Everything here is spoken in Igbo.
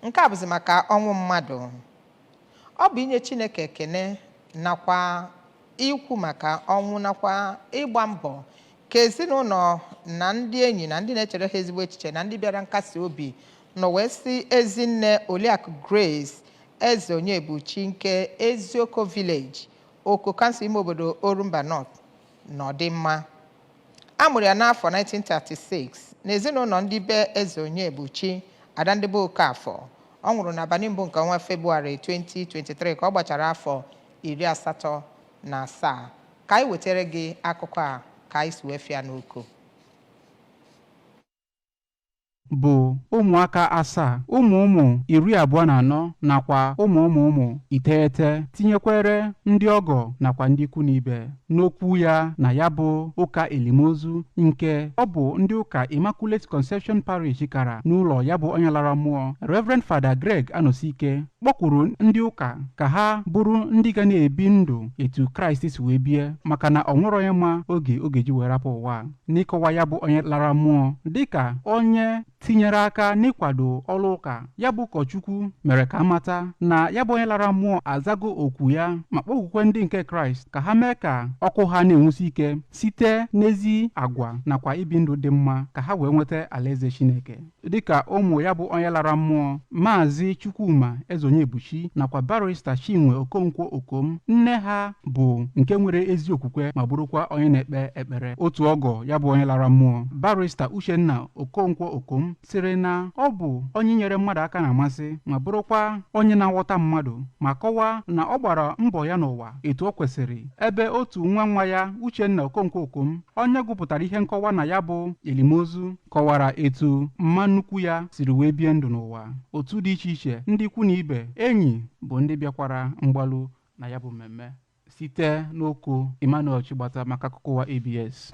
Nke a bụzi maka ọnwụ mmadụ. Ọ bụ inye Chineke ekene nakwa ikwu maka ọnwụ nakwa ịgba mbọ ka ezinụlọ na ndị enyi na ndị na-echere ha ezigbo echiche na ndị bịara nkasi obi nọ wee sị Ezinne Oliakụ Grace Ezeonyebuchi nke Ezioko Village, Oko Kansụl ime obodo Orumba North nọdụ mma. a mụrụ ya n'afọ 1936 n'ezinụlọ ndị be Ezeonyebuchi ada ndị be Okafọ ọ nwụrụ n'abalị mbụ nke ọnwa Febụwarị 2023 ka ọ gbachara afọ iri asatọ na asaa ka anyị wetara gị akụkọ a ka anyị si wee fịa n'Oko bụ ụmụaka asaa ụmụ ụmụ iri abụọ na anọ nakwa ụmụ ụmụ ụmụ iteghete tinyekwere ndị ọgọ nakwa ndị ikwu na ibe n'okwu ya na ya bụ ụka elim ozu nke ọ bụ ndị ụka Immaculate Conception Parish kara n'ụlọ ya bụ onye lara mmụọ Reverend Father Greg Anosike kpọkwuru ndị ụka ka ha bụrụ ndị ga na-ebi ndụ etu Kraịst si wee bie maka na o nwerọ onye ma oge ọ ga-eji wee rapụ ụwa n'ịkọwa ya bụ onye lara mmụọ dịka onye tinyere aka n'ịkwado ọrụ ụka ya bụ ụkọchukwu mere ka a mata na ya bụ onye lara mmụọ azago okwu ya ma kpọkwukwe ndị nke kraịst ka ha mee ka ọkụ ha na-enwusi ike site n'ezi agwa nakwa ibi ndụ dị mma ka ha wee nweta alaeze chineke dịka ụmụ ya bụ onye lara mmụọ maazị chukwuma ezeonyebuchi nakwa barista chinwe okonkwo okom nne ha bụ nke nwere ezi okwukwe ma bụrụkwa onye na-ekpe ekpere otu ọgọ ya bụ onye lara mmụọ barista uchenna okonkwo okom sịrị na ọ bụ onye inyere mmadụ aka na-amasị ma bụrụkwa onye na-aghọta mmadụ ma kọwaa na ọ gbara mbọ ya n'ụwa etu o kwesịrị ebe otu nwa nwa ya uchenna okonkwo okom onye gụpụtara ihe nkọwa na ya bụ elim ozu kọwara etu mma nnukwu ya siri wee bie ndụ n'ụwa otu dị iche iche ndị ikwu na ibe enyi bụ ndị bịakwara mgbalu na ya bụ mmemme site n'Oko Emmanuel Chigbata maka akụkọ ụwa ABS